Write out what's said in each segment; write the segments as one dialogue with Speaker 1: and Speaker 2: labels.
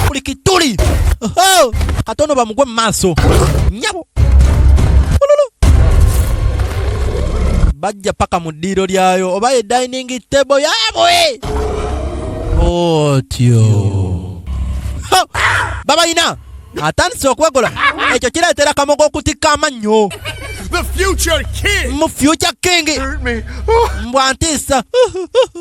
Speaker 1: buli kituli Oho! katono bamugwe mu maaso nyabo Ululu. bajja paka mu ddiiro lyayo oba ye dining table yabwe otyo Ha! babalina atandise okwegola ekyo kireetera kamogo okutikka amannyo The future
Speaker 2: king! mu future king
Speaker 1: Hurt me. Oh.
Speaker 2: mbwa ntiisa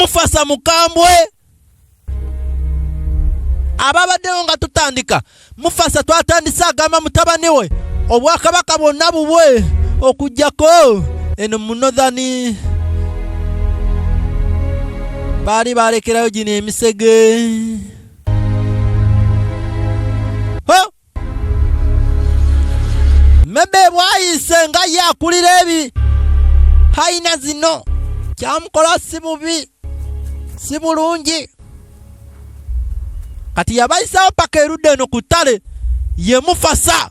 Speaker 1: mufasa mukambwe ababaddewo nga tutandika mufasa twatandise agamba mutabani we obwakabaka bwonna bubwe okujjako eno munothani baali balekerayo gino emisege Mebe bwayise nga ye akulira ebi hayina zino kyamukola si bubi si bulungi kati yabayisawo paka erudde eno ku ttale yemufasa